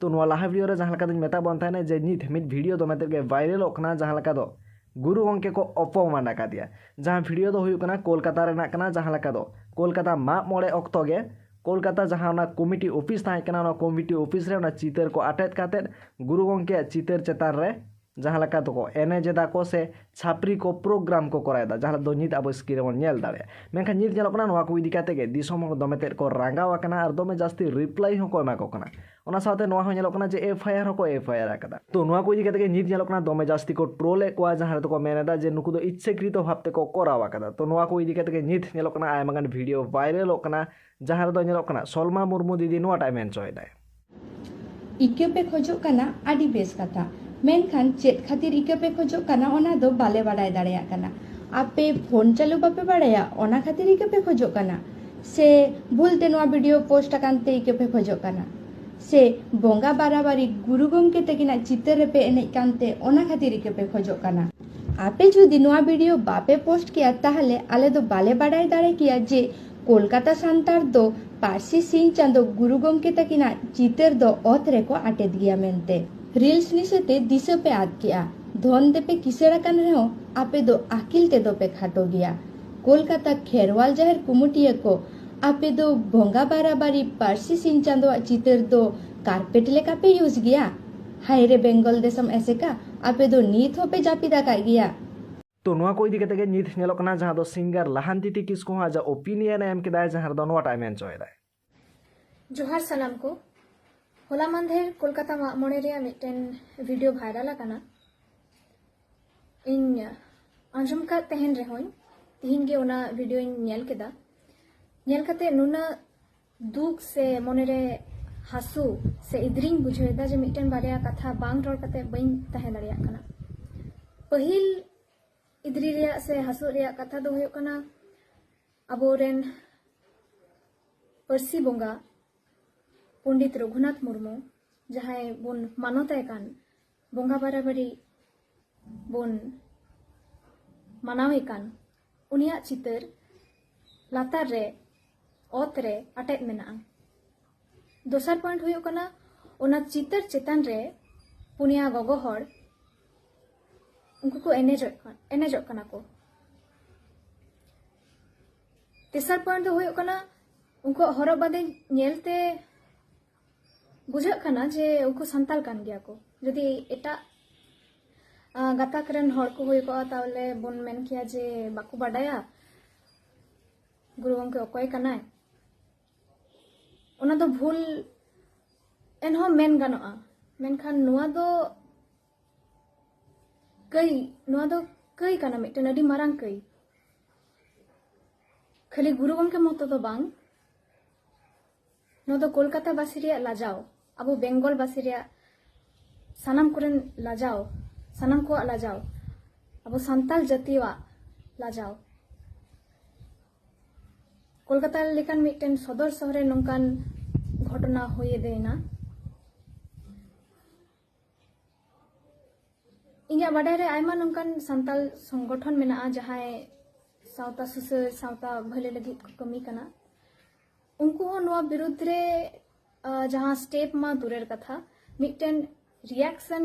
ᱛᱚ ᱱᱚᱣᱟ ᱞᱟᱦᱟ ᱵᱷᱤᱰᱤᱭᱳ ᱨᱮ ᱡᱟᱦᱟᱸ ᱞᱮᱠᱟ ᱫᱚᱧ ᱢᱮᱛᱟᱜ ᱵᱚᱱ ᱛᱟᱦᱮᱱᱟ ᱡᱮ ᱱᱤᱛ ᱢᱤᱫ ᱵᱷᱤᱰᱤᱭᱳ ᱫᱚᱢᱮ ᱛᱮᱫ ᱜᱮ ᱵᱷᱟᱭᱨᱟᱞᱚᱜ ᱠᱟᱱᱟ ᱡᱟᱦᱟᱸ ᱞᱮᱠᱟ ᱫᱚ ᱜᱩᱨᱩ ᱜᱚᱢᱠᱮ ᱠᱚ ᱚᱯᱚᱢᱟᱱ ᱟᱠᱟᱫᱮᱭᱟ ᱡᱟᱦᱟᱸ ᱵᱷᱤᱰᱤᱭᱳ ᱫᱚ ᱦᱩᱭᱩᱜ ᱠᱟᱱᱟ ᱠᱳᱞᱠᱟᱛᱟ ᱨᱮᱱᱟᱜ ᱠᱟᱱᱟ ᱡᱟᱦᱟᱸ ᱞᱮᱠᱟ ᱫᱚ ᱠᱳᱞᱠᱟᱛᱟ ᱢᱟᱜ ᱢᱚᱬᱮ ᱚᱠᱛᱚ ᱜᱮ ᱠᱳᱞᱠᱟᱛᱟ ᱡᱟᱦᱟᱸ ᱚᱱᱟ ᱠᱚᱢᱤᱴᱤ ᱚᱯᱷᱤᱥ ᱛᱟᱦᱮᱸ ᱠᱟᱱᱟ ᱚᱱᱟ ᱠᱚᱢᱤᱴᱤ ᱚᱯᱷᱤᱥ ᱨᱮ ᱚᱱᱟ ᱪᱤᱛᱟᱹᱨ ᱠᱚ ᱟᱴᱮᱫ ᱠᱟᱛᱮᱫ ᱜᱩᱨᱩ ᱜᱚᱢᱠᱮᱭᱟᱜ ᱪᱤᱛᱟᱹᱨ ᱪᱮᱛᱟᱱ ᱨᱮ ᱡᱟᱦᱟᱸ ᱞᱮᱠᱟ ᱫᱚᱠᱚ ᱮᱱᱮᱡ ᱮᱫᱟ ᱠᱚ ᱥᱮ ᱪᱷᱟᱯᱨᱤ ᱠᱚ ᱯᱨᱳᱜᱨᱟᱢ ᱠᱚ ᱠᱚᱨᱟᱣ ᱮᱫᱟ ᱡᱟᱦᱟᱸ ᱫᱚ ᱱᱤᱛ ᱟᱵᱚ ᱥᱠᱨᱤᱱ ᱨᱮᱵᱚᱱ ᱧᱮᱞ ᱫᱟᱲᱮᱭᱟᱜᱼᱟ ᱢᱮᱱᱠᱷᱟᱱ ᱱᱤᱛ ᱧᱮᱞᱚᱜ ᱠᱟᱱᱟ ᱱᱚᱣᱟ ᱠᱚ ᱤᱫᱤ ᱠᱟᱛᱮ ᱜᱮ ᱫᱤᱥᱚᱢ ᱦᱚᱲ ᱫᱚᱢᱮ ᱛᱮᱫ ᱠᱚ ᱨᱟᱸᱜᱟᱣ ᱟᱠᱟᱱᱟ ᱟᱨ ᱫᱚᱢᱮ ᱡᱟᱹᱥᱛᱤ ᱨᱤᱯᱞᱟᱭ ᱦᱚᱸ ᱠᱚ ᱮᱢᱟ ᱠᱚ ᱠᱟᱱᱟ ᱚᱱᱟ ᱥᱟᱶᱛᱮ ᱱᱚᱣᱟ ᱦᱚᱸ ᱧᱮᱞᱚᱜ ᱠᱟᱱᱟ ᱡᱮ ᱮᱯᱷ ᱟᱭ ᱟᱨ ᱦᱚᱸ ᱠᱚ ᱮᱯᱷ ᱟᱭ ᱟᱨ ᱟᱠᱟᱫᱟ ᱛᱚ ᱱᱚᱣᱟ ᱠᱚ ᱤᱫᱤ ᱠᱟᱛᱮ ᱜᱮ ᱱᱤᱛ ᱧᱮᱞᱚᱜ ᱠᱟᱱᱟ ᱫᱚᱢᱮ ᱡᱟᱹᱥᱛᱤ ᱠᱚ ᱴᱨᱳᱞ ᱮᱫ ᱠᱚᱣᱟ ᱡᱟᱦᱟᱸ ᱨᱮᱫᱚ ᱠᱚ ᱢᱮᱱ ᱮᱫᱟ ᱡᱮ ᱱᱩᱠᱩ ᱫᱚ ᱤᱪᱪᱷᱟᱹᱠᱨᱤᱛᱚ ᱵᱷᱟᱵ ᱛᱮᱠᱚ ᱠᱚᱨᱟᱣ ᱟᱠᱟᱫᱟ ᱛᱚ ᱱᱚᱣᱟ ᱠᱚ ᱤᱫᱤ ᱠᱟᱛᱮ ᱜᱮ ᱱᱤᱛ ᱧᱮᱞᱚᱜ ᱠᱟᱱᱟ ᱟᱭᱢᱟ ᱜᱟᱱ ᱵᱷᱤᱰᱤᱭᱳ ᱵᱷᱟᱭᱨᱟᱞᱚᱜ ᱠᱟᱱᱟ ᱡᱟᱦᱟᱸ ᱨᱮᱫᱚ ᱧᱮᱞᱚᱜ ᱠᱟᱱᱟ ᱥᱚᱞᱢᱟ ᱢᱩᱨᱢᱩ ᱫᱤᱫᱤ ᱱᱚᱣᱟᱴᱟᱜ ᱢᱮᱱ ᱦᱚᱪᱚᱭᱮᱫᱟᱭ ᱤᱠᱟᱹ ᱯᱮ ᱠᱷᱚᱡᱚᱜ ᱠᱟᱱᱟ ᱟᱹᱰᱤ ᱵᱮᱥ ᱠᱟᱛᱷᱟ ᱢᱮᱱᱠᱷᱟᱱ ᱪᱮᱫ ᱠᱷᱟᱹᱛᱤᱨ ᱤᱠᱟᱹ ᱯᱮ ᱠᱷᱚᱡᱚᱜ ᱠᱟᱱᱟ ᱚᱱᱟ ᱫᱚ ᱵᱟᱞᱮ ᱵᱟᱰᱟᱭ ᱫᱟᱲᱮᱭᱟᱜ ᱠᱟᱱᱟ ᱟᱯᱮ ᱯᱷᱳᱱ ᱪᱟᱹᱞᱩ ᱵᱟᱯᱮ ᱵᱟᱲᱟᱭᱟ ᱚᱱᱟ ᱠᱷᱟᱹᱛᱤᱨ ᱤᱠᱟᱹ ᱯᱮ ᱠᱷᱚᱡᱚᱜ ᱠᱟᱱᱟ ᱥᱮ ᱵᱷᱩᱞ ᱛᱮ ᱱᱚᱣᱟ ᱵᱷᱤᱰᱤᱭᱳ ᱯᱳᱥᱴ ᱟᱠᱟᱱ ᱛᱮ ᱤᱠᱟᱹ ᱯᱮ ᱠᱷᱚᱡᱚᱜ ᱠᱟᱱᱟ ᱥᱮ ᱵᱚᱸᱜᱟ ᱵᱟᱨᱟᱵᱟᱨᱤ ᱜᱩᱨᱩ ᱜᱚᱢᱠᱮ ᱛᱟᱹᱠᱤᱱᱟᱜ ᱪᱤᱛᱟᱹᱨ ᱨᱮᱯᱮ ᱮᱱᱮᱡ ᱠᱟᱱᱛᱮ ᱚᱱᱟ ᱠᱷᱟᱹᱛᱤᱨ ᱤᱠᱟᱹ ᱯᱮ ᱠᱷᱚᱡᱚᱜ ᱠᱟᱱᱟ ᱟᱯᱮ ᱡᱩᱫᱤ ᱱᱚᱣᱟ ᱵᱷᱤᱰᱤᱭᱳ ᱵᱟᱯᱮ ᱯᱳᱥᱴ ᱠᱮᱭᱟ ᱛᱟᱦᱞᱮ ᱟᱞᱮ ᱫᱚ ᱵᱟᱞᱮ ᱵᱟᱰᱟᱭ ᱫᱟᱲᱮ ᱠᱮᱭᱟ ᱡᱮ ᱠᱳᱞᱠᱟᱛᱟ ᱥᱟᱱᱛᱟᱲ ᱫᱚ ᱯᱟᱹᱨᱥᱤ ᱥᱤᱧ ᱪᱟᱸᱫᱚ ᱜᱩᱨᱩ ᱜᱚᱢᱠᱮ ᱛᱟᱹᱠᱤᱱᱟᱜ ᱪᱤᱛᱟᱹᱨ ᱫᱚ ᱚᱛ ᱨᱮᱠᱚ ᱟᱴᱮᱫ ᱜᱮᱭᱟ ᱢᱮᱱᱛᱮ ᱨᱤᱞᱥ ᱱᱤᱥᱟᱹᱛᱮ ᱫᱤᱥᱟᱹ ᱯᱮ ᱟᱫ ᱠᱮᱜᱼᱟ ᱫᱷᱚᱱ ᱛᱮᱯᱮ ᱠᱤᱥᱟᱹᱲ ᱟᱠᱟᱱ ᱨᱮᱦᱚᱸ ᱟᱯᱮ ᱫᱚ ᱟᱹᱠᱤᱞ ᱛᱮᱫᱚ ᱯᱮ ᱠᱷᱟᱴᱚ ᱜᱮᱭᱟ ᱠᱳᱞᱠᱟᱛᱟ ᱠᱷᱮᱨᱣᱟᱞ ᱡᱟᱦᱮᱨ ᱠᱩᱢᱩᱴᱤᱭᱟᱹ ᱠᱚ ᱟᱯᱮ ᱫᱚ ᱵᱚᱸᱜᱟ ᱵᱟᱨᱟᱵᱟᱨᱤ ᱯᱟᱹᱨᱥᱤ ᱥᱤᱧ ᱪᱟᱸᱫᱚᱣᱟᱜ ᱪᱤᱛᱟᱹᱨ ᱫᱚ ᱠᱟᱨᱯᱮᱴ ᱞᱮᱠᱟ ᱯᱮ ᱤᱭᱩᱡᱽ ᱜᱮᱭᱟ ᱦᱟᱭᱨᱮ ᱵᱮᱝᱜᱚᱞ ᱫᱮᱥᱚᱢ ᱮᱥᱮᱠᱟ ᱟᱯᱮ ᱫᱚ ᱱᱤᱛ ᱦᱚᱸᱯᱮ ᱡᱟᱹᱯᱤᱫ ᱟᱠᱟᱫ ᱜᱮᱭᱟ ᱛᱚ ᱱᱚᱣᱟ ᱠᱚ ᱤᱫᱤ ᱠᱟᱛᱮ ᱜᱮ ᱱᱤᱛ ᱧᱮᱞᱚᱜ ᱠᱟᱱᱟ ᱡᱟᱦᱟᱸ ᱫᱚ ᱥᱤᱝᱜᱟᱨ ᱞᱟᱦᱟᱱᱛᱤᱛᱤ ᱠᱤᱥᱠᱩ ᱦᱚᱸ ᱟᱡᱟᱜ ᱚᱯᱤᱱᱤᱭᱚᱱ ᱮ ᱮᱢ ᱠᱮᱫᱟ ᱡᱟᱦᱟᱸ ᱨᱮᱫᱚ ᱱᱚᱣᱟᱴᱟᱜ ᱢᱮᱱ ᱪᱚᱭᱮᱫᱟᱭ ᱡᱚᱦᱟᱨ ᱥᱟᱱᱟᱢ ᱠᱚ ᱦᱚᱞᱟ ᱢᱟᱱᱫᱷᱮᱨ ᱠᱳᱞᱠᱟᱛᱟ ᱢᱟᱜ ᱢᱚᱬᱮ ᱨᱮᱭᱟᱜ ᱢᱤᱫᱴᱮᱱ ᱵᱷᱤᱰᱤᱭᱳ ᱵᱷᱟᱭᱨᱟᱞ ᱟᱠᱟᱱᱟ ᱤᱧ ᱟᱸᱡᱚᱢ ᱠᱟᱫ ᱛᱟᱦᱮᱱ ᱨᱮᱦᱚᱸᱧ ᱛᱤᱦᱤᱧ ᱜᱮ ᱚᱱᱟ ᱵᱷᱤᱰᱤᱭᱳᱧ ᱧᱮᱞ ᱠᱮᱫᱟ ᱧᱮᱞ ᱠᱟᱛᱮ ᱱᱩᱱᱟᱹᱜ ᱫᱩᱠ ᱥᱮ ᱢᱚᱱᱮ ᱨᱮ ᱦᱟᱹᱥᱩ ᱥᱮ ᱤᱫᱨᱤᱧ ᱵᱩᱡᱷᱟᱹᱣᱮᱫᱟ ᱡᱮ ᱢᱤᱫᱴᱮᱱ ᱵᱟᱨᱭᱟ ᱠᱟᱛᱷᱟ ᱵᱟᱝ ᱨᱚᱲ ᱠᱟᱛᱮ ᱵᱟᱹᱧ ᱛᱟᱦᱮᱸ ᱫᱟᱲᱮᱭᱟᱜ ᱠᱟᱱᱟ ᱯᱟᱹᱦᱤᱞ ᱤᱫᱨᱤ ᱨᱮᱭᱟᱜ ᱥᱮ ᱦᱟᱹᱥᱩ ᱨᱮᱭᱟᱜ ᱠᱟᱛᱷᱟ ᱫᱚ ᱦᱩᱭᱩᱜ ᱠᱟᱱᱟ ᱟᱵᱚᱨᱮᱱ ᱯᱟᱹᱨᱥᱤ ᱵᱚᱸᱜᱟ ᱯᱚᱸᱰᱤᱛ ᱨᱚᱜᱷᱩᱱᱟᱛᱷ ᱢᱩᱨᱢᱩ ᱡᱟᱦᱟᱸᱭ ᱵᱚᱱ ᱢᱟᱱᱚᱛᱟᱭ ᱠᱟᱱ ᱵᱚᱸᱜᱟ ᱵᱟᱨᱟᱵᱟᱨᱤ ᱵᱚᱱ ᱢᱟᱱᱟᱣᱮ ᱠᱟᱱ ᱩᱱᱤᱭᱟᱜ ᱪᱤᱛᱟᱹᱨ ᱞᱟᱛᱟᱨ ᱨᱮ ᱚᱛ ᱨᱮ ᱟᱴᱮᱫ ᱢᱮᱱᱟᱜᱼᱟ ᱫᱚᱥᱟᱨ ᱯᱚᱭᱮᱱᱴ ᱦᱩᱭᱩᱜ ᱠᱟᱱᱟ ᱚᱱᱟ ᱪᱤᱛᱟᱹᱨ ᱪᱮᱛᱟᱱ ᱨᱮ ᱯᱩᱱᱭᱟ ᱜᱚᱜᱚ ᱦᱚᱲ ᱩᱱᱠᱩ ᱠᱚ ᱮᱱᱮᱡᱚᱜ ᱮᱱᱮᱡᱚᱜ ᱠᱟᱱᱟ ᱠᱚ ᱛᱮᱥᱟᱨ ᱯᱚᱭᱮᱱᱴ ᱫᱚ ᱦᱩᱭᱩᱜ ᱠᱟᱱᱟ ᱩᱱᱠᱩᱣᱟᱜ ᱦᱚᱨᱚᱜ ᱵᱟᱸᱫᱮ ᱧᱮᱞᱛᱮ ᱵᱩᱡᱷᱟᱹᱜ ᱠᱟᱱᱟ ᱡᱮ ᱩᱱᱠᱩ ᱥᱟᱱᱛᱟᱲ ᱠᱟᱱ ᱜᱮᱭᱟ ᱠᱚ ᱡᱩᱫᱤ ᱮᱴᱟᱜ ᱜᱟᱛᱟᱠ ᱨᱮᱱ ᱦᱚᱲ ᱠᱚ ᱦᱩᱭ ᱠᱚᱜᱼᱟ ᱛᱟᱦᱚᱞᱮ ᱵᱚᱱ ᱢᱮᱱ ᱠᱮᱭᱟ ᱡᱮ ᱵᱟᱠᱚ ᱵᱟᱰᱟᱭᱟ ᱜᱩᱨᱩ ᱜᱚᱢᱠᱮ ᱚᱠᱚᱭ ᱠᱟᱱᱟᱭ ᱚᱱᱟ ᱫᱚ ᱵᱷᱩᱞ ᱮᱱᱦᱚᱸ ᱢᱮᱱ ᱜᱟᱱᱚᱜᱼᱟ ᱢᱮᱱᱠᱷᱟᱱ ᱱᱚᱣᱟ ᱫᱚ ᱠᱟᱹᱭ ᱱᱚᱣᱟ ᱫᱚ ᱠᱟᱹᱭ ᱠᱟᱱᱟ ᱢᱤᱫᱴᱮᱱ ᱟᱹᱰᱤ ᱢᱟᱨᱟᱝ ᱠᱟᱹᱭ ᱠᱷᱟᱹᱞᱤ ᱜᱩᱨᱩ ᱜᱚᱢᱠᱮ ᱢᱚᱛᱚ ᱫᱚ ᱵᱟᱝ ᱱᱚᱣᱟ ᱫᱚ ᱠᱳᱞᱠᱟᱛᱟ ᱵᱟᱥᱤ ᱨᱮᱭᱟᱜ ᱞᱟᱡᱟᱣ ᱟᱵᱚ ᱵᱮᱝᱜᱚᱞ ᱵᱟᱥᱤ ᱨᱮᱭᱟᱜ ᱥᱟᱱᱟᱢ ᱠᱚᱨᱮᱱ ᱞᱟᱡᱟᱣ ᱥᱟᱱᱟᱢ ᱠᱚᱣᱟᱜ ᱞᱟᱡᱟᱣ ᱟᱵᱚ ᱥᱟᱱᱛᱟᱲ ᱡᱟᱹᱛᱤᱭᱟᱜ ᱞᱟᱡᱟᱣ ᱠᱳᱞᱠᱟᱛᱟ ᱞᱮᱠᱟᱱ ᱢᱤᱫᱴᱮᱱ ᱥᱚᱫᱚᱨ ᱥᱚᱦᱚᱨᱮ ᱱᱚᱝᱠᱟᱱ ᱜᱷᱚᱴᱚᱱᱟ ᱦᱩᱭ ᱮᱫᱮᱱᱟ ᱤᱧᱟᱹᱜ ᱵᱟᱰᱟᱭ ᱨᱮ ᱟᱭᱢᱟ ᱱᱚᱝᱠᱟᱱ ᱥᱟᱱᱛᱟᱲ ᱥᱚᱝᱜᱚᱴᱷᱚᱱ ᱢᱮᱱᱟᱜᱼᱟ ᱡᱟᱦᱟᱸᱭ ᱥᱟᱶᱛᱟ ᱥᱩᱥᱟᱹᱨ ᱥᱟᱶᱛᱟ ᱵᱷᱟᱹᱞᱟᱹᱭ ᱞᱟᱹᱜᱤᱫ ᱠᱚ ᱠᱟᱹᱢᱤ ᱠᱟᱱᱟ ᱩᱱᱠᱩ ᱦᱚᱸ ᱱᱚᱣᱟ ᱵᱤᱨᱩᱫᱽ ᱨᱮ ᱡᱟᱦᱟᱸ ᱥᱴᱮᱯ ᱢᱟ ᱫᱩᱨᱮᱨ ᱠᱟᱛᱷᱟ ᱢᱤᱫᱴᱮᱱ ᱨᱤᱭᱟᱠᱥᱚᱱ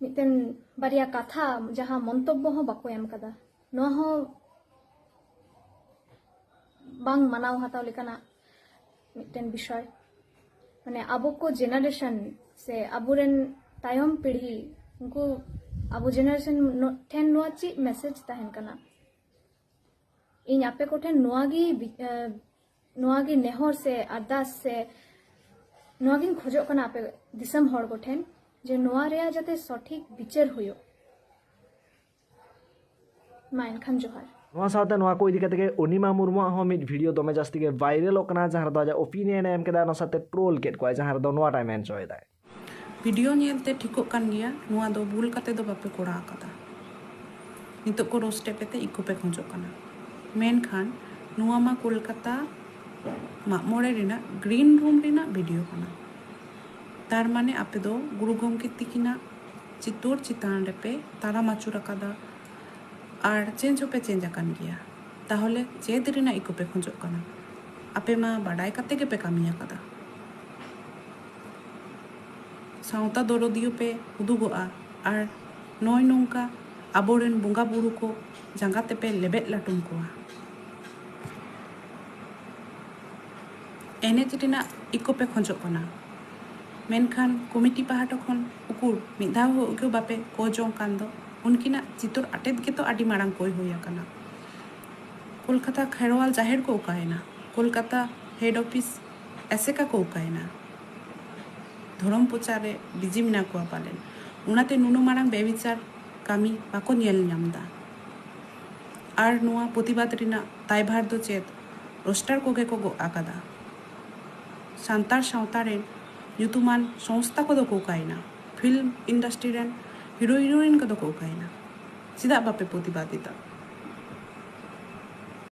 ᱢᱤᱫᱴᱮᱱ ᱵᱟᱨᱭᱟ ᱠᱟᱛᱷᱟ ᱡᱟᱦᱟᱸ ᱢᱚᱱᱛᱚᱵᱵᱚ ᱦᱚᱸ ᱵᱟᱠᱚ ᱮᱢ ᱠᱟᱫᱟ ᱱᱚᱣᱟ ᱦᱚᱸ ᱵᱟᱝ ᱢᱟᱱᱟᱣ ᱦᱟᱛᱟᱣ ᱞᱮᱠᱟᱱᱟᱜ ᱢᱤᱫᱴᱮᱱ ᱵᱤᱥᱚᱭ ᱢᱟᱱᱮ ᱟᱵᱚ ᱠᱚ ᱡᱮᱱᱟᱨᱮᱥᱚᱱ ᱥᱮ ᱟᱵᱚᱨᱮᱱ ᱛᱟᱭᱚᱢ ᱯᱤᱲᱦᱤ ᱩᱱᱠᱩ ᱟᱵᱚ ᱡᱮᱱᱟᱨᱮᱥᱚᱱ ᱴᱷᱮᱱ ᱱᱚᱣᱟ ᱪᱮᱫ ᱢᱮᱥᱮᱡᱽ ᱛᱟᱦᱮᱱ ᱠᱟᱱᱟ ᱤᱧ ᱟᱯᱮ ᱠᱚᱴᱷᱮᱱ ᱱᱚᱣᱟ ᱜᱮ ᱱᱚᱣᱟ ᱜᱮ ᱱᱮᱦᱚᱨ ᱥᱮ ᱟᱨᱫᱟᱥ ᱥᱮ ᱱᱚᱣᱟ ᱜᱤᱧ ᱠᱷᱚᱡᱚᱜ ᱠᱟᱱᱟ ᱟᱯᱮ ᱫᱤᱥᱚᱢ ᱦᱚᱲ ᱠᱚᱴᱷᱮᱱ ᱡᱮ ᱱᱚᱣᱟ ᱨᱮᱭᱟᱜ ᱡᱟᱛᱮ ᱥᱚᱴᱷᱤᱠ ᱵᱤᱪᱟᱹᱨ ᱦᱩᱭᱩᱜ ᱢᱟ ᱮᱱᱠᱷᱟᱱ ᱡᱚᱦᱟᱨ ᱱᱚᱣᱟ ᱥᱟᱶᱛᱮ ᱱᱚᱣᱟ ᱠᱚ ᱤᱫᱤ ᱠᱟᱛᱮ ᱜᱮ ᱚᱱᱤᱢᱟ ᱢᱩᱨᱢᱩᱣᱟᱜ ᱦᱚᱸ ᱢᱤᱫ ᱵᱷᱤᱰᱤᱭᱳ ᱫᱚᱢᱮ ᱡᱟᱹᱥᱛᱤ ᱜᱮ ᱵᱷᱟᱭᱨᱟᱞᱚᱜ ᱠᱟᱱᱟ ᱡᱟᱦᱟᱸ ᱨᱮᱫᱚ ᱟᱡᱟᱜ ᱚᱯᱤᱱᱤᱭᱚᱱ ᱮ ᱮᱢ ᱠᱮᱫᱟ ᱚᱱᱟ ᱥᱟᱶᱛᱮ ᱴᱨᱳᱞ ᱠᱮᱫ ᱠᱚᱣᱟᱭ ᱡᱟᱦᱟᱸ ᱨᱮᱫᱚ ᱱᱚᱣᱟᱴᱟᱭ ᱢᱮᱱ ᱦᱚᱪᱚᱭᱮᱫᱟᱭ ᱵᱷᱤᱰᱤᱭᱳ ᱧᱮᱞ ᱛᱮ ᱴᱷᱤᱠᱚᱜ ᱠᱟᱱ ᱜᱮᱭᱟ ᱱᱚᱣᱟ ᱫᱚ ᱵᱷᱩᱞ ᱠᱟᱛᱮ ᱫᱚ ᱵᱟᱯᱮ ᱠᱚᱨᱟᱣ ᱟᱠᱟᱫᱟ ᱱᱤᱛᱚᱜ ᱠᱚ ᱨᱳᱥᱴ ᱮᱫ ᱯᱮᱛᱮ ᱤᱠᱳ ᱯᱮ ᱠᱷᱚᱡᱚᱜ ᱠᱟᱱᱟ ᱢᱮᱱᱠᱷᱟᱱ ᱱᱚᱣᱟ ᱢᱟ ᱠᱳᱞᱠᱟᱛᱟ ᱢᱟᱜ ᱢᱚᱬᱮ ᱨᱮᱱᱟᱜ ᱜᱨᱤᱱ ᱨᱩᱢ ᱨᱮᱱᱟᱜ ᱵᱷᱤᱰᱤᱭᱳ ᱠᱟᱱᱟ ᱛᱟᱨ ᱢᱟᱱᱮ ᱟᱯᱮ ᱫᱚ ᱜᱩᱨᱩ ᱜᱚᱢᱠᱮ ᱛᱤᱠᱤᱱᱟᱜ ᱪᱤᱛᱳᱨ ᱪᱮᱛᱟᱱ ᱨᱮᱯᱮ ᱛᱟᱲᱟᱢ ᱟᱹᱪᱩᱨ ᱟᱠᱟᱫᱟ ᱟᱨ ᱪᱮᱧᱡᱽ ᱦᱚᱸᱯᱮ ᱪᱮᱧᱡᱽ ᱟᱠᱟᱱ ᱜᱮᱭᱟ ᱛᱟᱦᱚᱞᱮ ᱪᱮᱫ ᱨᱮᱱᱟᱜ ᱤᱠᱳ ᱯᱮ ᱠᱷᱚᱡᱚᱜ ᱠᱟᱱᱟ ᱟᱯᱮ ᱢᱟ ᱵᱟᱰᱟᱭ ᱠᱟᱛᱮ ᱜᱮᱯᱮ ᱠᱟᱹᱢᱤ ᱟᱠᱟᱫᱟ ᱥᱟᱶᱛᱟ ᱫᱚᱨᱚᱫᱤᱭᱟᱹ ᱯᱮ ᱩᱫᱩᱜᱚᱜᱼᱟ ᱟᱨ ᱱᱚᱭ ᱱᱚᱝᱠᱟ ᱟᱵᱚ ᱨᱮᱱ ᱵᱚᱸᱜᱟ ᱵᱩᱨᱩ ᱠᱚ ᱡᱟᱸᱜᱟ ᱛᱮᱯᱮ ᱞᱮᱵᱮᱫ ᱞᱟᱹᱴᱩᱢ ᱠᱚᱣᱟ᱾ ᱮᱱᱮᱡ ᱨᱮᱱᱟᱜ ᱤᱠᱳ ᱯᱮ ᱠᱷᱚᱡᱚᱜ ᱠᱟᱱᱟ ᱢᱮᱱᱠᱷᱟᱱ ᱠᱚᱢᱤᱴᱤ ᱯᱟᱦᱴᱟ ᱠᱷᱚᱱ ᱩᱠᱩᱨ ᱢᱤᱫ ᱫᱷᱟᱣ ᱦᱚᱸ ᱤᱠᱳ ᱵᱟᱯᱮ ᱠᱚᱭ ᱡᱚᱝ ᱠᱟᱱ ᱫᱚ ᱩᱱᱠᱤᱱᱟᱜ ᱪᱤᱛᱚᱨ ᱟᱴᱮᱫ ᱜᱮᱛᱚ ᱟᱹᱰᱤ ᱢᱟᱨᱟᱝ ᱠᱚᱭ ᱦᱩᱭ ᱟᱠᱟᱱᱟ᱾ ᱠᱚᱞᱠᱟᱛᱟ ᱠᱷᱮᱨᱣᱟᱞ ᱡᱟᱦᱮᱨ ᱠᱚ ᱚᱠᱟᱭᱮᱱᱟ? ᱠᱚᱞᱠᱟᱛᱟ ᱦᱮᱰ ᱚᱯᱷᱤᱥ ᱮᱥᱮᱠᱟ ᱠᱚ ᱚᱠᱟᱭᱮᱱᱟ? ᱫᱷᱚᱨᱚᱢ ᱯᱨᱚᱪᱟᱨ ᱨᱮ ᱵᱤᱡᱤ ᱢᱮᱱᱟᱜ ᱠᱚᱣᱟ ᱯᱟᱞᱮᱱ᱾ ᱚᱱᱟᱛᱮ ᱱᱩᱱᱟᱹᱜ ᱢᱟᱨᱟᱝ ᱵᱮᱵᱤᱪᱟᱨ ᱠᱟᱹᱢᱤ ᱵᱟᱠᱚ ᱧᱮᱞ ᱧᱟᱢ ᱮᱫᱟ᱾ ᱟᱨ ᱱᱚᱣᱟ ᱯᱨᱚᱛᱤᱵᱟᱫᱽ ᱨᱮᱱᱟᱜ ᱫᱟᱭᱵᱷᱟᱨ ᱫᱚ ᱪᱮᱫ ᱨᱳᱥᱴᱟᱨ ᱠᱚᱜᱮ ᱠᱚ ᱜᱚᱜ ᱟᱠᱟᱫᱟ? ᱥᱟᱱᱛᱟᱲ ᱥᱟᱶᱛᱟ ᱨᱮᱱ ᱧᱩᱛᱩᱢᱟᱱ ᱥᱚᱝᱥᱛᱷᱟ ᱠᱚᱫᱚ ᱠᱚ ᱚᱠᱟᱭᱮᱱᱟ? ᱯᱷᱤᱞᱢ ᱤᱱᱰᱟᱥᱴᱨᱤ ᱨᱮᱱ ᱦᱤᱨᱳ ᱦᱤᱨᱳᱭᱤᱱ ᱠᱚᱫᱚ ᱠᱚ ᱚᱠᱟᱭᱮᱱᱟ? ᱪᱮᱫᱟᱜ ᱵᱟᱯᱮ ᱯᱨᱚᱛᱤᱵᱟᱫᱽ ᱮᱫᱟ?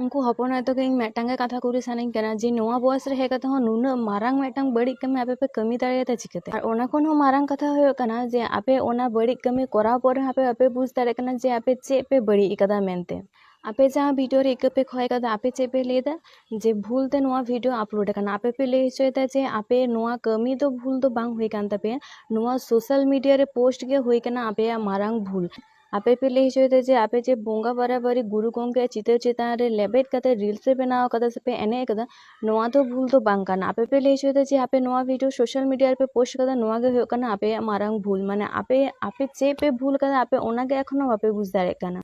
ᱩᱱᱠᱩ ᱦᱚᱯᱚᱱ ᱟᱭᱳ ᱛᱟᱠᱚ ᱤᱧ ᱢᱤᱫᱴᱟᱝ ᱜᱮ ᱠᱟᱛᱷᱟ ᱠᱩᱞᱤ ᱥᱟᱱᱟᱧ ᱠᱟᱱᱟ ᱡᱮ ᱱᱚᱣᱟ ᱵᱚᱭᱮᱥ ᱨᱮ ᱦᱮᱡ ᱠᱟᱛᱮ ᱦᱚᱸ ᱱᱩᱱᱟᱹᱜ ᱢᱟᱨᱟᱝ ᱢᱤᱫᱴᱟᱝ ᱵᱟᱹᱲᱤᱡ ᱠᱟᱹᱢᱤ ᱟᱯᱮ ᱯᱮ ᱠᱟᱹᱢᱤ ᱫᱟᱲᱮᱭᱟᱫᱟ ᱪᱤᱠᱟᱹᱛᱮ ᱟᱨ ᱚᱱᱟ ᱠᱷᱚᱱ ᱦᱚᱸ ᱢᱟᱨᱟᱝ ᱠᱟᱛᱷᱟ ᱦᱩᱭᱩᱜ ᱠᱟᱱᱟ ᱡᱮ ᱟᱯᱮ ᱚᱱᱟ ᱵᱟᱹᱲᱤᱡ ᱠᱟᱹᱢᱤ ᱠᱚᱨᱟᱣ ᱯᱚᱨ ᱨᱮᱦᱚᱸ ᱟᱯᱮ ᱵᱟᱯᱮ ᱵᱩᱡᱽ ᱫᱟᱲᱮᱭᱟᱜ ᱠᱟᱱᱟ ᱡᱮ ᱟᱯᱮ ᱪᱮᱫ ᱯᱮ ᱵᱟᱹᱲᱤᱡ ᱠᱟᱫᱟ ᱢᱮᱱᱛᱮ ᱟᱯᱮ ᱡᱟᱦᱟᱸ ᱵᱷᱤᱰᱤᱭᱳ ᱨᱮ ᱤᱠᱟᱹ ᱯᱮ ᱠᱷᱚᱭ ᱠᱟᱫᱟ ᱟᱯᱮ ᱪᱮᱫ ᱯᱮ ᱞᱟᱹᱭᱫᱟ ᱡᱮ ᱵᱷᱩᱞ ᱛᱮ ᱱᱚᱣᱟ ᱵᱷᱤᱰᱤᱭᱳ ᱟᱯᱞᱳᱰ ᱠᱟᱱᱟ ᱟᱯᱮ ᱯᱮ ᱞᱟᱹᱭ ᱦᱚᱪᱚᱭᱮᱫᱟ ᱡᱮ ᱟᱯᱮ ᱱᱚᱣᱟ ᱠᱟᱹᱢᱤ ᱫᱚ ᱵᱷᱩᱞ ᱫᱚ ᱵᱟᱝ ᱦᱩᱭ ᱠᱟᱱ ᱛᱟᱯᱮᱭᱟ ᱱᱚᱣᱟ ᱥᱳᱥᱟᱞ ᱢᱤᱰᱤᱭᱟ ᱨᱮ ᱯᱳᱥᱴ ᱜᱮ ᱦᱩᱭ ᱠᱟᱱᱟ ᱟᱯᱮᱭᱟᱜ ᱢᱟᱨᱟᱝ ᱵᱷᱩᱞ ᱟᱯᱮ ᱯᱮ ᱞᱟᱹᱭ ᱦᱚᱪᱚᱭᱮᱫᱟ ᱡᱮ ᱟᱯᱮ ᱡᱮ ᱵᱚᱸᱜᱟ ᱵᱟᱨᱟᱵᱟᱨᱤ ᱜᱩᱨᱩ ᱜᱚᱢᱠᱮᱭᱟᱜ ᱪᱤᱛᱟᱹᱨ ᱪᱮᱛᱟᱱ ᱨᱮ ᱞᱮᱵᱮᱫ ᱠᱟᱛᱮ ᱨᱤᱞᱥ ᱯᱮ ᱵᱮᱱᱟᱣ ᱠᱟᱫᱟ ᱥᱮᱯᱮ ᱮᱱᱮᱡ ᱠᱟᱫᱟ ᱱᱚᱣᱟ ᱫᱚ ᱵᱷᱩᱞ ᱫᱚ ᱵᱟᱝ ᱠᱟᱱᱟ ᱟᱯᱮ ᱯᱮ ᱞᱟᱹᱭ ᱦᱚᱪᱚᱭᱮᱫᱟ ᱡᱮ ᱟᱯᱮ ᱱᱚᱣᱟ ᱵᱷᱤᱰᱤᱭᱳ ᱥᱳᱥᱟᱞ ᱢᱤᱰᱤᱭᱟ ᱨᱮᱯᱮ ᱯᱳᱥᱴ ᱠᱟᱫᱟ ᱱᱚᱣᱟ ᱜᱮ ᱦᱩᱭᱩᱜ ᱠᱟᱱᱟ ᱟᱯᱮᱭᱟᱜ ᱢᱟᱨᱟᱝ ᱵᱷᱩᱞ ᱢᱟᱱᱮ ᱟᱯᱮ ᱟᱯᱮ ᱪᱮᱫ ᱯᱮ ᱵᱷᱩᱞ ᱠᱟᱫᱟ ᱟᱯᱮ ᱚᱱᱟ ᱜᱮ ᱮᱠᱷᱚᱱᱳ ᱵᱟᱯᱮ ᱵᱩᱡᱽ ᱫᱟᱲᱮᱭᱟᱜ ᱠᱟᱱᱟ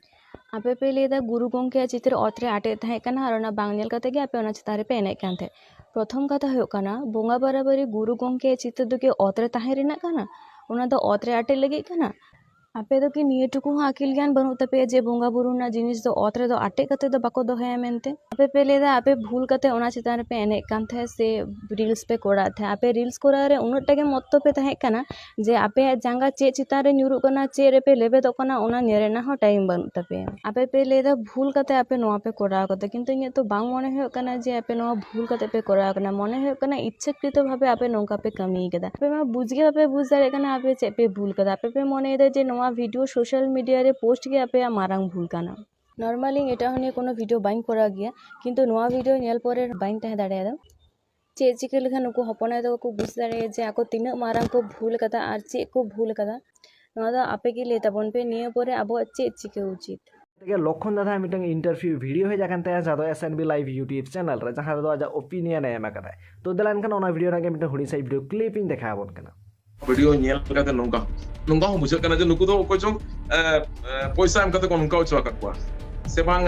ᱟᱯᱮ ᱯᱮ ᱞᱟᱹᱭᱫᱟ ᱜᱩᱨᱩ ᱜᱚᱢᱠᱮᱭᱟᱜ ᱪᱤᱛᱟᱹᱨ ᱚᱛ ᱨᱮ ᱟᱴᱮᱫ ᱛᱟᱦᱮᱸ ᱠᱟᱱᱟ ᱟᱨ ᱚᱱᱟ ᱵᱟᱝ ᱧᱮᱞ ᱠᱟᱛᱮ ᱜᱮ ᱟᱯᱮ ᱚᱱᱟ ᱪᱮᱛᱟᱱ ᱨᱮᱯᱮ ᱮᱱᱮᱡ ᱠᱟᱱ ᱛᱟᱦᱮᱸᱫ ᱯᱨᱚᱛᱷᱚᱢ ᱠᱟᱛᱷᱟ ᱦᱩᱭᱩᱜ ᱠᱟᱱᱟ ᱵᱚᱸᱜᱟ ᱵᱟᱨᱟᱵᱟᱨᱤ ᱜᱩᱨᱩ ᱜᱚᱢᱠᱮᱭᱟᱜ ᱪᱤᱛᱟᱹᱨ ᱫᱚ ᱠᱤ ᱚᱛ ᱨᱮ ᱛᱟᱦᱮᱸ ᱨᱮᱱᱟᱜ ᱠᱟᱱᱟ ᱚᱱᱟ ᱫᱚ ᱚᱛ ᱨᱮ ᱟᱴᱮᱫ ᱞᱟᱹᱜᱤᱫ ᱠᱟᱱᱟ ᱟᱯᱮ ᱫᱚ ᱠᱤ ᱱᱤᱭᱟᱹ ᱴᱩᱠᱩ ᱦᱚᱸ ᱟᱹᱠᱤᱞ ᱜᱮᱭᱟᱱ ᱵᱟᱹᱱᱩᱜ ᱛᱟᱯᱮᱭᱟ ᱡᱮ ᱵᱚᱸᱜᱟ ᱵᱩᱨᱩ ᱨᱮᱱᱟᱜ ᱡᱤᱱᱤᱥ ᱫᱚ ᱚᱛ ᱨᱮᱫᱚ ᱟᱴᱮᱫ ᱠᱟᱛᱮ ᱫᱚ ᱵᱟᱠᱚ ᱫᱚᱦᱚᱭᱟ ᱢᱮᱱᱛᱮ ᱟᱯᱮ ᱯᱮ ᱞᱟᱹᱭᱫᱟ ᱟᱯᱮ ᱵᱷᱩᱞ ᱠᱟᱛᱮ ᱚᱱᱟ ᱪᱮᱛᱟᱱ ᱨᱮᱯᱮ ᱮᱱᱮᱡ ᱠᱟᱱ ᱛᱟᱦᱮᱸᱫ ᱥᱮ ᱨᱤᱞᱥ ᱯᱮ ᱠᱚᱨᱟᱣᱮᱫ ᱛᱟᱦᱮᱸᱫ ᱟᱯᱮ ᱨᱤᱞᱥ ᱠᱚᱨᱟᱣ ᱨᱮ ᱩᱱᱟᱹᱜ ᱴᱟ ᱜᱮ ᱢᱚᱛᱛᱚ ᱯᱮ ᱛᱟᱦᱮᱸ ᱠᱟᱱᱟ ᱡᱮ ᱟᱯᱮᱭᱟᱜ ᱡᱟᱸᱜᱟ ᱪᱮᱫ ᱪᱮᱛᱟᱱ ᱨᱮ ᱧᱩᱨᱩᱜ ᱠᱟᱱᱟ ᱪᱮᱫ ᱨᱮᱯᱮ ᱞᱮᱵᱮᱫᱚᱜ ᱠᱟᱱᱟ ᱚᱱᱟ ᱧᱮᱞ ᱨᱮᱱᱟᱜ ᱦᱚᱸ ᱴᱟᱭᱤᱢ ᱵᱟᱹᱱᱩᱜ ᱛᱟᱯᱮᱭᱟ ᱟᱯᱮ ᱯᱮ ᱞᱟᱹᱭᱫᱟ ᱵᱷᱩᱞ ᱠᱟᱛᱮ ᱟᱯᱮ ᱱᱚᱣᱟ ᱯᱮ ᱠᱚᱨᱟᱣ ᱠᱟᱫᱟ ᱠᱤᱱᱛᱩ ᱤᱧᱟᱹᱜ ᱛᱚ ᱵᱟᱝ ᱢᱚᱱᱮ ᱦᱩᱭᱩᱜ ᱠᱟᱱᱟ ᱡᱮ ᱟᱯᱮ ᱱᱚᱣᱟ ᱵᱷᱩᱞ ᱠᱟᱛᱮ ᱯᱮ ᱠᱚᱨᱟᱣ ᱠᱟᱫᱟ ᱢᱚᱱᱮ ᱦᱩᱭᱩᱜ ᱠᱟᱱᱟ ᱤᱪᱪᱷᱟᱹ ᱠᱨᱤᱛᱚ ᱵᱷᱟᱵᱮ ᱟᱯᱮ ᱱᱚᱝᱠᱟ ᱯᱮ ᱠᱟᱹᱢᱤᱭ ᱠᱟᱫᱟ ᱟᱯᱮ ᱢᱟ ᱵᱩᱡᱽ ᱜᱮ ᱵᱟᱯᱮ ᱵᱩᱡᱽ ᱫᱟᱲᱮᱭᱟᱜ ᱠᱟᱱᱟ ᱟᱯᱮ ᱪᱮᱫ ᱯᱮ ᱵᱷᱩᱞ ᱠᱟᱫᱟ ᱟᱯᱮ ᱯᱮ ᱢᱚᱱᱮᱭᱫᱟ ᱡᱮ ᱱᱚᱣᱟ ᱵᱷᱤᱰᱤᱭᱳ ᱥᱳᱥᱟᱞ ᱢᱤᱰᱤᱭᱟ ᱨᱮ ᱯᱳᱥᱴ ᱜᱮ ᱟᱯᱮᱭᱟᱜ ᱢᱟᱨᱟᱝ ᱵᱷᱩᱞ ᱠᱟᱱᱟ ᱱᱚᱨᱢᱟᱞᱤ ᱤᱧ ᱮᱴᱟᱜ ᱦᱚᱲ ᱱᱤᱭᱮ ᱠᱳᱱᱳ ᱵᱷᱤᱰᱤᱭᱳ ᱵᱟᱹᱧ ᱠᱚᱨᱟᱣ ᱜᱮᱭᱟ ᱠᱤᱱᱛᱩ ᱱᱚᱣᱟ ᱵᱷᱤᱰᱤᱭᱳ ᱧᱮᱞ ᱯᱚᱨᱮ ᱵᱟᱹᱧ ᱛᱟᱦᱮᱸ ᱫᱟᱲᱮᱭᱟᱫᱟ ᱪᱮᱫ ᱪᱤᱠᱟᱹ ᱞᱮᱠᱷᱟᱱ ᱱᱩᱠᱩ ᱦᱚᱯᱚᱱ ᱟᱭᱳ ᱛᱟᱠᱚ ᱠᱚ ᱵᱩᱡᱽ ᱫᱟᱲᱮᱭᱟᱜᱼᱟ ᱡᱮ ᱟᱠᱚ ᱛᱤᱱᱟᱹᱜ ᱢᱟᱨᱟᱝ ᱠᱚ ᱵᱷᱩᱞ ᱠᱟᱫᱟ ᱟᱨ ᱪᱮᱫ ᱠᱚ ᱵᱷᱩᱞ ᱠᱟᱫᱟ ᱱᱚᱣᱟ ᱫᱚ ᱟᱯᱮ ᱜᱮ ᱞᱟᱹᱭ ᱛᱟᱵᱚᱱ ᱯᱮ ᱱᱤᱭᱟᱹ ᱯᱚᱨᱮ ᱟᱵᱚᱣᱟᱜ ᱪᱮᱫ ᱪᱤᱠᱟᱹ ᱩᱪᱤᱛ ᱛᱮᱜᱮ ᱞᱚᱠᱷᱚᱱ ᱫᱟᱫᱟ ᱢᱤᱫᱴᱟᱝ ᱤᱱᱴᱟᱨᱵᱷᱤᱭᱩ ᱵᱷᱤᱰᱤᱭᱳ ᱦᱮᱡ ᱟᱠᱟᱱ ᱛᱟᱭᱟ ᱡᱟᱦᱟᱸ ᱫᱚ S N B live YouTube channel ᱨᱮ ᱡᱟᱦᱟᱸ ᱨᱮᱫᱚ ᱟᱡᱟᱜ ᱚᱯᱤᱱᱤᱭᱚᱱ ᱮ ᱮᱢ ᱟᱠᱟᱫᱟᱭ ᱛᱚ ᱫᱮᱞᱟ ᱮᱱᱠᱷᱟᱱ ᱚᱱᱟ ᱵᱷᱤᱰᱤᱭᱳ ᱨᱮᱱᱟᱜ ᱜᱮ ᱢᱤᱫᱴᱟᱝ ᱦᱩᱰᱤᱧ ᱥᱟᱺᱦᱤᱡ ᱵᱷᱤᱰᱤᱭᱳ ᱠᱞᱤᱯ ᱤᱧ ᱫᱮᱠᱷᱟᱣ ᱟᱵᱚᱱ ᱠᱟᱱᱟ ᱵᱷᱤᱰᱤᱭᱳ ᱧᱮᱞ ᱠᱟᱛᱮ ᱱᱚᱝᱠᱟ ᱱᱚᱝᱠᱟ ᱦᱚᱸ ᱵᱩᱡᱷᱟᱹᱜ ᱠᱟᱱᱟ ᱡᱮ ᱱᱩᱠᱩ ᱫᱚ ᱚᱠᱚᱭ ᱪᱚᱝ ᱯᱚᱭᱥᱟ ᱮᱢ ᱠᱟᱛᱮ ᱠᱚ ᱱᱚᱝᱠᱟ ᱦᱚᱪᱚ ᱟᱠᱟᱫ ᱠᱚᱣᱟ ᱥᱮ ᱵᱟᱝ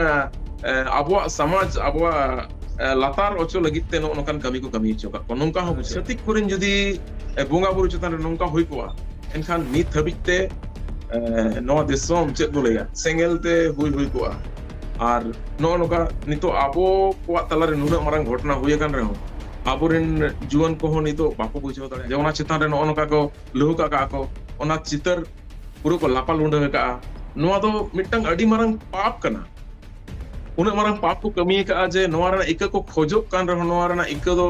ᱟᱵᱚᱣᱟᱜ ᱥᱚᱢᱟᱡᱽ ᱟᱵᱚᱣᱟᱜ ᱞᱟᱛᱟᱨ ᱚᱪᱚ ᱞᱟᱹᱜᱤᱫ ᱛᱮ ᱱᱚᱜᱼᱚ ᱱᱚᱝᱠᱟᱱ ᱠᱟᱹᱢᱤ ᱠᱚ ᱠᱟᱹᱢᱤ ᱦᱚᱪᱚ ᱟᱠᱟᱫ ᱠᱚᱣᱟ ᱱᱚᱝᱠᱟ ᱦᱚᱸ ᱪᱷᱟᱹᱛᱤᱠ ᱠᱚᱨᱮᱱ ᱡᱩᱫᱤ ᱵᱚᱸᱜᱟ ᱵᱩᱨᱩ ᱪᱮᱛᱟᱱ ᱨᱮ ᱱᱚᱝᱠᱟ ᱦᱩᱭ ᱠᱚᱜᱼᱟ ᱮᱱᱠᱷᱟᱱ ᱱᱤᱛ ᱦᱟᱹᱵᱤᱡ ᱛᱮ ᱱᱚᱣᱟ ᱫᱤᱥᱚᱢ ᱪᱮᱫ ᱵᱚ ᱞᱟᱹᱭᱟ ᱥᱮᱸᱜᱮᱞ ᱛᱮ ᱦᱩᱭ ᱦᱩᱭ ᱠᱚᱜᱼᱟ ᱟᱨ ᱱᱚᱜᱼᱚ ᱱᱚᱝᱠᱟ ᱱᱤᱛᱚᱜ ᱟᱵᱚ ᱠᱚᱣᱟᱜ ᱛᱟᱞᱟᱨᱮ ᱱᱩᱱᱟᱹᱜ ᱢᱟᱨᱟᱝ ᱜᱷᱚᱴᱚᱱᱟ ᱦᱩᱭ ᱟᱠᱟᱱ ᱨᱮᱦᱚᱸ ᱟᱵᱚᱨᱮᱱ ᱡᱩᱣᱟᱹᱱ ᱠᱚᱦᱚᱸ ᱱᱤᱛᱚᱜ ᱵᱟᱠᱚ ᱵᱩᱡᱷᱟᱹᱣ ᱫᱟᱲᱮᱭᱟᱜᱼᱟ ᱡᱮ ᱚᱱᱟ ᱪᱮᱛᱟᱱ ᱨᱮ ᱱᱚᱜᱼᱚ ᱱᱚᱝᱠᱟ ᱠᱚ ᱞᱟᱹᱦᱩ ᱠᱟᱜ ᱠᱟᱜᱼᱟ ᱠᱚ ᱚᱱᱟ ᱪᱤᱛᱟᱹᱨ ᱯᱩᱨᱟᱹ ᱠᱚ ᱞᱟᱯᱟ ᱞᱩᱸᱰᱟᱹ ᱟᱠᱟᱜᱼᱟ ᱱᱚᱣᱟ ᱫᱚ ᱢᱤᱫᱴᱟᱝ ᱟᱹᱰᱤ ᱢᱟᱨᱟᱝ ᱯᱟᱯ ᱠᱟᱱᱟ ᱩᱱᱟᱹᱜ ᱢᱟᱨᱟᱝ ᱯᱟᱯ ᱠᱚ ᱠᱟᱹᱢᱤ ᱟᱠᱟᱜᱼᱟ ᱡᱮ ᱱᱚᱣᱟ ᱨᱮᱱᱟᱜ ᱤᱠᱟᱹ ᱠᱚ ᱠᱷᱚᱡᱚᱜ ᱠᱟᱱ ᱨᱮᱦᱚᱸ ᱱᱚᱣᱟ ᱨᱮᱱᱟᱜ ᱤᱠᱟᱹ ᱫᱚ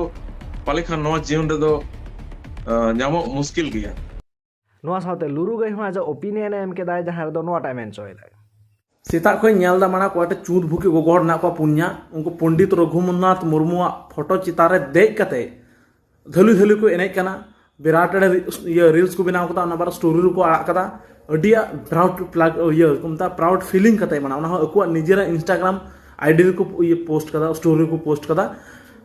ᱯᱟᱞᱮ ᱠᱷᱟᱱ ᱱᱚᱣᱟ ᱡᱤᱭᱚᱱ ᱨᱮᱫᱚ ᱧᱟᱢᱚᱜ ᱢᱩᱥᱠᱤᱞ ᱜᱮᱭᱟ ᱱᱚᱣᱟ ᱥᱟᱶᱛᱮ ᱞᱩᱨᱩ ᱜᱟᱹᱭ ᱦᱚᱸ ᱟᱡᱟᱜ ᱚᱯᱤᱱᱤᱭᱚᱱ ᱮᱢ ᱠᱮᱫᱟᱭ ᱡᱟᱦᱟᱸ ᱨᱮᱫᱚ ᱱᱚᱣᱟᱴᱟᱜ ᱢᱮᱱ ᱦᱚᱪᱚᱭᱮᱫᱟᱭ ᱥᱮᱛᱟᱜ ᱠᱷᱚᱱ ᱧᱮᱞ ᱫᱟ ᱢᱟᱲᱟ ᱠᱚᱴᱮ ᱪᱩᱸᱫ ᱵᱷᱩᱠᱤ ᱜᱚᱜᱚ ᱦᱚᱲ ᱢᱮᱱᱟᱜ ᱠᱚᱣᱟ ᱯᱩᱱᱭᱟ ᱩᱱᱠᱩ ᱯᱚᱱᱰᱤᱛ ᱨᱚᱜᱷᱩᱢᱚᱱᱟᱛᱷ ᱢᱩᱨᱢᱩᱣᱟᱜ ᱯᱷᱳᱴᱳ ᱪᱮᱛᱟᱱ ᱨᱮ ᱫᱮᱡ ᱠᱟᱛᱮ ᱫᱷᱟᱹᱞᱩ ᱫᱷᱟᱹᱞᱩ ᱠᱚ ᱮᱱᱮᱡ ᱠᱟᱱᱟ ᱵᱤᱨᱟᱴ ᱮᱲᱮ ᱤᱭᱟᱹ ᱨᱤᱞᱥ ᱠᱚ ᱵᱮᱱᱟᱣ ᱠᱟᱫᱟ ᱚᱱᱟ ᱵᱟᱨ ᱥᱴᱳᱨᱤ ᱨᱮᱠᱚ ᱟᱲᱟᱜ ᱠᱟᱫᱟ ᱟᱹᱰᱤ ᱯᱨᱟᱩᱰ ᱯᱞᱟᱜ ᱤᱭᱟᱹ ᱠᱚ ᱢᱮᱛᱟᱜ ᱯᱨᱟᱩᱰ ᱯᱷᱤᱞᱤᱝ ᱠᱟᱛᱮ ᱢᱟᱱᱟ ᱚᱱᱟ ᱦᱚᱸ ᱟᱠᱚᱣᱟᱜ ᱱᱤᱡᱮᱨᱟᱜ ᱤᱱᱥᱴᱟᱜᱨᱟᱢ ᱟᱭᱰᱤ ᱨᱮᱠᱚ ᱤᱭᱟᱹ ᱯᱳᱥᱴ ᱠᱟᱫᱟ ᱥᱴᱳᱨᱤ ᱨᱮᱠᱚ ᱯᱳᱥᱴ ᱠᱟᱫᱟ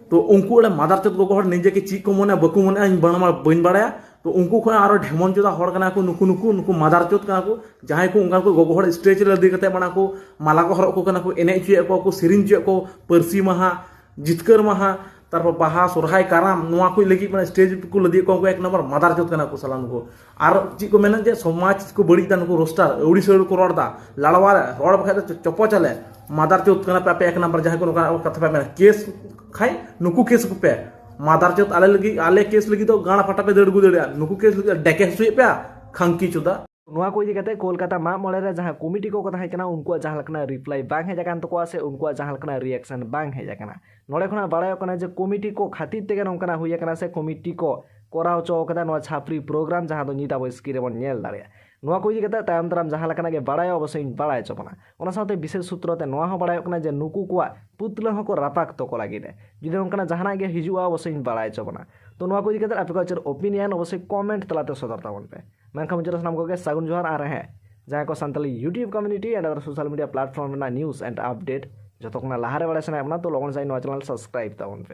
ᱛᱚ ᱩᱱᱠᱩ ᱚᱲᱮ ᱢᱟᱫᱟᱨ ᱪᱮᱫ ᱜᱚᱜᱚ ᱦᱚᱲ ᱱᱤᱡᱮ ᱠᱮ ᱪᱮᱫ ᱠᱚ ᱢᱚᱱᱮ ᱵᱟᱠᱚ ᱢᱚᱱᱮ ᱤᱧ ᱵᱟᱹᱧ ᱵᱟᱲᱟᱭᱟ ᱛᱚ ᱩᱱᱠᱩ ᱠᱷᱚᱱ ᱟᱨᱚ ᱰᱷᱮᱢᱚᱱ ᱪᱚᱫᱟ ᱦᱚᱲ ᱠᱟᱱᱟ ᱠᱚ ᱱᱩᱠᱩ ᱱᱩᱠᱩ ᱱᱩᱠᱩ ᱢᱟᱫᱟᱨ ᱪᱚᱫ ᱠᱟᱱᱟ ᱠᱚ ᱡᱟᱦᱟᱸᱭ ᱠᱚ ᱚᱱᱠᱟ ᱠᱚ ᱜᱚᱜᱚ ᱦᱚᱲ ᱥᱴᱮᱡ ᱨᱮ ᱞᱟᱫᱮ ᱠᱟᱛᱮ ᱢᱟᱱᱟ ᱠᱚ ᱢᱟᱞᱟ ᱠᱚ ᱦᱚᱨᱚᱜ ᱠᱚ ᱠᱟᱱᱟ ᱠᱚ ᱮᱱᱮᱡ ᱦᱚᱪᱚᱭᱮᱫ ᱠᱚᱣᱟ ᱠᱚ ᱥᱮᱨᱮᱧ ᱦᱚᱪᱚᱭᱮᱫ ᱠᱚ ᱯᱟᱹᱨᱥᱤ ᱢᱟᱦᱟ ᱡᱤᱛᱠᱟᱹᱨ ᱢᱟᱦᱟ ᱛᱟᱨᱯᱚᱨ ᱵᱟᱦᱟ ᱥᱚᱨᱦᱟᱭ ᱠᱟᱨᱟᱢ ᱱᱚᱣᱟ ᱠᱚ ᱞᱟᱹᱜᱤᱫ ᱢᱟᱱᱮ ᱥᱴᱮᱡ ᱠᱚ ᱞᱟᱫᱮ ᱠᱚᱣᱟ ᱩᱱᱠᱩ ᱮᱠ ᱱᱚᱢᱵᱚᱨ ᱢᱟᱫᱟᱨ ᱪᱚᱫ ᱠᱟᱱᱟ ᱠᱚ ᱥᱟᱞᱟ ᱱᱩᱠᱩ ᱟᱨ ᱪᱮᱫ ᱠᱚ ᱢᱮᱱᱟ ᱡᱮ ᱥᱚᱢᱟᱡᱽ ᱠᱚ ᱵᱟᱹᱲᱤᱡ ᱫᱟ ᱱᱩᱠᱩ ᱨᱳᱥᱴᱟᱨ ᱟᱹᱣᱲᱤ ᱥᱟᱹᱣᱲᱤ ᱠᱚ ᱨᱚᱲ ᱫᱟ ᱞᱟᱲᱣᱟ ᱨᱚᱲ ᱵᱟᱠᱷᱟᱡ ᱫᱚ ᱪᱚᱯᱚ ᱪᱟᱞᱮ ᱢᱟᱫᱟᱨ ᱪᱚᱫ ᱠᱟᱱᱟ ᱯᱮ ᱟᱯᱮ ᱮᱠ ᱱᱚᱢᱵᱚᱨ ᱡᱟᱦᱟᱸᱭ ᱠᱚ ᱱᱚᱝᱠᱟ ᱠᱟᱛᱷᱟ ᱯᱮ ᱢᱮᱱᱟ ᱠᱮᱥ ᱠᱷᱟᱡ ᱱᱩᱠᱩ ᱠᱮᱥ ᱠᱚᱯᱮ ᱢᱟᱫᱟᱨ ᱪᱚᱛ ᱟᱞᱮ ᱞᱟᱹᱜᱤᱫ ᱟᱞᱮ ᱠᱮᱥ ᱞᱟᱹᱜᱤᱫ ᱫᱚ ᱜᱟᱲ ᱯᱷᱟᱴᱟ ᱯᱮ ᱫᱟᱹᱲ ᱟᱹᱜᱩ ᱫᱟᱲᱮᱭᱟᱜᱼᱟ ᱱᱩᱠᱩ ᱠᱮᱥ ᱞᱟᱹᱜᱤᱫ ᱰᱮᱠᱮ ᱦᱚᱪᱚᱭᱮᱫ ᱯᱮᱭᱟ ᱠᱷᱟᱝᱠᱤ ᱪᱚᱫᱟ ᱱᱚᱣᱟ ᱠᱚ ᱤᱫᱤ ᱠᱟᱛᱮ ᱠᱳᱞᱠᱟᱛᱟ ᱢᱟᱜ ᱢᱚᱬᱮ ᱨᱮ ᱡᱟᱦᱟᱸ ᱠᱚᱢᱤᱴᱤ ᱠᱚᱠᱚ ᱛᱟᱦᱮᱸ ᱠᱟᱱᱟ ᱩᱱᱠᱩᱣᱟᱜ ᱡᱟᱦᱟᱸ ᱞᱮᱠᱟᱱᱟᱜ ᱨᱤᱯᱞᱟᱭ ᱵᱟᱝ ᱦᱮᱡ ᱟᱠᱟᱱ ᱛᱟᱠᱚᱣᱟ ᱥᱮ ᱩᱱᱠᱩᱣᱟᱜ ᱡᱟᱦᱟᱸ ᱞᱮᱠᱟᱱᱟᱜ ᱨᱤᱭᱮᱠᱥᱚᱱ ᱵᱟᱝ ᱦᱮᱡ ᱟᱠᱟᱱᱟ ᱱᱚᱰᱮ ᱠᱷᱚᱱᱟᱜ ᱵᱟᱲᱟᱭᱚᱜ ᱠᱟᱱᱟ ᱡᱮ ᱠᱚᱢᱤᱴᱤ ᱠᱚ ᱠᱷᱟᱹᱛᱤᱨ ᱛᱮᱜᱮ ᱱᱚᱝᱠᱟᱱᱟᱜ ᱦᱩᱭ ᱟᱠᱟᱱᱟ ᱥᱮ ᱠᱚᱢᱤᱴᱤ ᱠᱚ ᱠᱚᱨᱟᱣ ᱦᱚᱪᱚ ᱟᱠᱟᱫᱟ ᱱᱚᱣᱟ ᱪᱷᱟᱯᱨᱤ ᱯᱨᱳᱜᱨᱟᱢ ᱡᱟᱦᱟᱸ ᱫᱚ ᱧᱤᱫ ᱟᱵᱚ ᱥᱠᱨᱤᱱ ᱨᱮᱵᱚᱱ ᱧᱮᱞ ᱫᱟᱲᱮᱭᱟᱜᱼᱟ ᱱᱚᱣᱟ ᱠᱚ ᱤᱫᱤ ᱠᱟᱛᱮ ᱛᱟᱭᱚᱢ ᱫᱟᱨᱟᱢ ᱡᱟᱦᱟᱸ ᱞᱮᱠᱟᱱᱟᱜ ᱜᱮ ᱵᱟᱲᱟᱭᱚᱜ ᱚᱵᱚᱥᱥᱳᱭ ᱤᱧ ᱵᱟᱲᱟᱭ ᱦᱚᱪᱚ ᱵᱚᱱᱟ ᱚᱱᱟ ᱥᱟᱶᱛᱮ ᱵᱤᱥᱮᱥ ᱥᱩᱛᱨᱚ ᱛᱮ ᱱᱚᱣᱟ ᱦᱚᱸ ᱵᱟᱲᱟᱭᱚᱜ ᱠᱟᱱᱟ ᱡᱮ ᱱᱩᱠᱩ ᱠᱚᱣᱟᱜ ᱯᱩᱛᱞᱟᱹ ᱦᱚᱸᱠᱚ ᱨᱟᱯᱟᱜ ᱛᱚᱠᱚ ᱞᱟᱹᱜᱤᱫ ᱮ ᱡᱩᱫᱤ ᱱᱚᱝᱠᱟᱱᱟᱜ ᱡᱟᱦᱟᱱᱟᱜ ᱜᱮ ᱦᱤᱡᱩᱜᱼᱟ ᱚᱵᱚᱥᱥᱳᱭᱤᱧ ᱵᱟᱲᱟᱭ ᱦᱚᱪᱚ ᱵᱚᱱᱟ ᱛᱚ ᱱᱚᱣᱟ ᱠᱚ ᱤᱫᱤ ᱠᱟᱛᱮ ᱟᱯᱮ ᱠᱚᱣᱟᱜ ᱪᱮᱫ ᱚᱯᱤᱱᱤᱭᱚᱱ ᱚᱵᱚᱥᱥᱳᱭ ᱠᱚᱢᱮᱱᱴ ᱛᱟᱞᱟᱛᱮ ᱥᱚᱫᱚᱨ ᱛᱟᱵᱚᱱ ᱯᱮ ᱢᱮᱱᱠᱷᱟᱱ ᱢᱩᱪᱟᱹᱫ ᱥᱟᱱᱟᱢ ᱠᱚᱜᱮ ᱥᱟᱹᱜᱩᱱ ᱡᱚᱦᱟᱨ ᱟᱨ ᱦᱮᱸ ᱡᱟᱦᱟᱸᱭ ᱠᱚ Santali YouTube community and other social media platform ᱨᱮᱱᱟᱜ ᱱᱤᱭᱩᱡᱽ ᱮᱱᱰ ᱟᱯᱰᱮᱴ ᱡᱚᱛᱚ ᱠᱷᱚᱱᱟᱜ ᱞᱟᱦᱟᱨᱮ ᱵᱟᱲᱟᱭ ᱥᱟᱱᱟᱭᱮᱫ ᱵᱚᱱᱟ ᱛᱚ ᱞᱚᱜᱚᱱ ᱥᱟᱺᱦᱤᱡ ᱱᱚᱣᱟ ᱪᱮᱱᱮᱞ ᱥᱟᱵᱥᱠᱨᱟᱭᱤᱵᱽ ᱛᱟᱵᱚᱱ ᱯᱮ